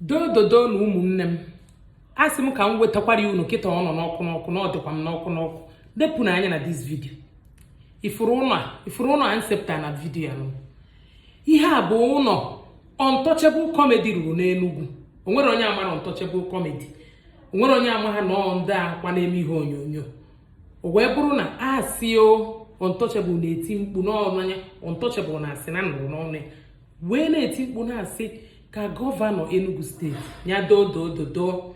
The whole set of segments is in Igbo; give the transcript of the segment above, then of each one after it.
dododo nụ ụmụnne m a sị m ka m wetakwara ya unu kịta ọ nọ n'ọkụ n'ọkụ na ọ dịkwa m n'ọkụ n'ọkụ ewepụna anya na this video ị fụrụ ụlọ ị fụrụ ụlọ a m sepụta na video anwa ihe a bụ ụlọ untouchable comedy rụrụ n'enugwu o nwere onye amarọ untouchable comedy o nwere onye amaha na ọ ndị a kwa na-eme ihe onyonyo o wee bụrụ na asị o untouchable na-eti mkpu n'ọnụ anya untouchable na-asị na nụrụ n'ọnụ ya wee na-eti mkpu na-asị ka gọvanọ Enugu steeti ya doo doo dodoo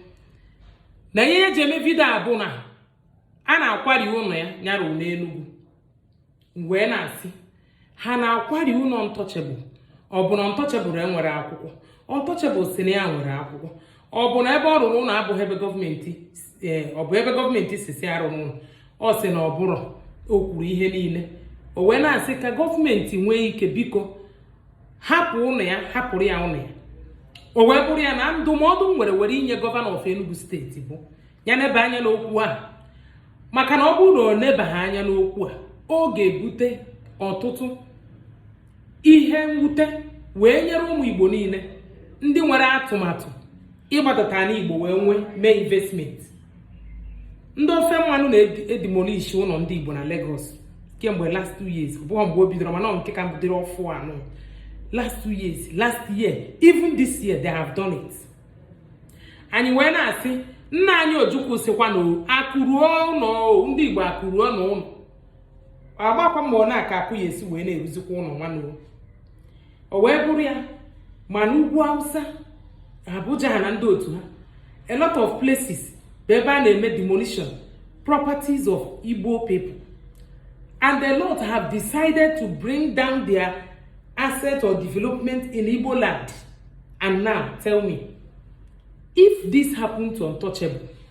na ihe e ji eme video a bụ na a na-akwari ụlọ ya nya rụrụ na Enugu wee na-asị ha na-akwari ụlọ untouchable ọ bụ na untouchable enwerọ akwụkwọ untouchable sị na ya nwere akwụkwọ ọ bụ na ebe ọ rụrụ ụlọ abụghị ebe gọọmenti eh, ọ bụ ebe gọọmenti sị sị arụna ụlọ ọ sị na ọ bụrọ o kwuru ihe niile o wee na-asị ka gọọmenti nwee ike biko hapụ ụlọ ya hapụrụ ya ụlọ ya o wee bụrụ ya na ndụmọdụ m nwere were inye gọvanọ of Enugu steeti bụ ya neba anya n'okwu a maka na ọ bụrụ na ọ nebaghị anya n'okwu a ọ ga-ebute ọtụtụ ihe mwute wee nyere ụmụ igbo niile ndị nwere atụmatụ ịgbadata ala igbo wee nwee mee investment ndị ofe mmanụ na-edimolishi ụlọ ndị igbo na Lagos kemgbe last two years bụọ mgbe o bidoro mana nke ka bidoro ọfụụ anwa last two years last year even this year they have done it anyị wee na-asị nna anyị ojukwu sịkwa na akụ ruo ụlọ ndị igbo akụ ruonụ ụlọ a gbakwa mbọ na aka akụ ga-esi wee na-eruzikwa ụlọ nwanne o wee bụrụ ya ma n'ugwu awụsa abuja ha na ndị otu ha a lot of places bụ ebe a na-eme demolition properties of igbo people and a lot have decided to bring down their asset or development in igbo land and now tell me if this happened to untouchable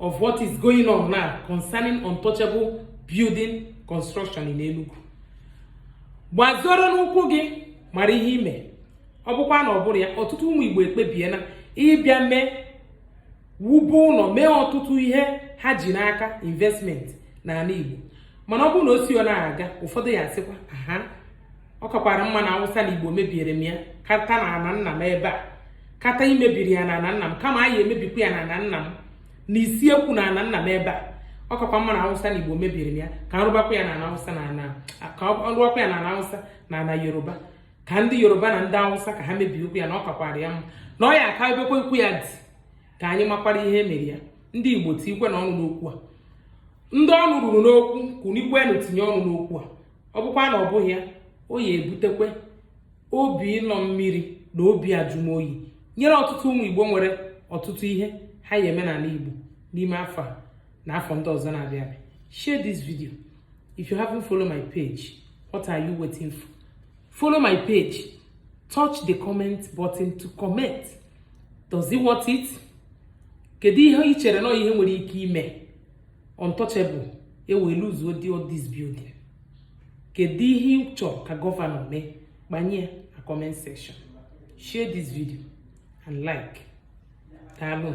of what is going on now concerning untouchable building construction n'Enugu gbazoro n'ụkwụ gị mara ihe ime ọ bụkwa na ọ bụrụ ya ọtụtụ ụmụ Igbo ekpebiela ịbịa mee wube ụlọ mee ọtụtụ ihe ha ji n'aka investment n'ala Igbo mana ọ bụrụ na o si ọ na-aga ụfọdụ ya-asịkwa aha ọ kakwara mma na awụsa na igbo mebiere m ya kata na ana nna m ebe a kata imebiri ya na ana nna m kama anyị emebikwa ya na ana nna m na isi ekwu na ana nna m ebe a ọ kakwa mma na awụsa na igbo mebiri m ya ka nrụbakwa ya na ana awụsa na ana ka nrụbakwa ya na ana awụsa na ana yoruba ka ndị yoruba na ndị awụsa ka ha mebie okwu ya na ọ kakwara ya mma na ọ ya aka ebekwa ikwu ya dị ka anyị makwara ihe mere ya ndị igbo tikwenụ ọnụ n'okwu a ndị ọnụ ruru n'okwu kunikwenụ tinye ọnụ n'okwu a ọ bụkwa na ọ bụghị ya ọ ya ebutekwa obi ịlọ mmiri na obi ajụmoyi nyere ọtụtụ ụmụ igbo nwere ọtụtụ ihe ha ya eme n'ala igbo n'ime afọ a na afọ ndị ọzọ na-abịa abịa share this video if you haven't follow my page what are you waiting for follow my page touch the comment button to comment does it worth it kedu ihe ị chere na ihe nwere ike ime untouchable ewee luzuo di this building kedu ihe ị chọrọ ka gọvanọ mee gbanye na comment section share this video and like daalụ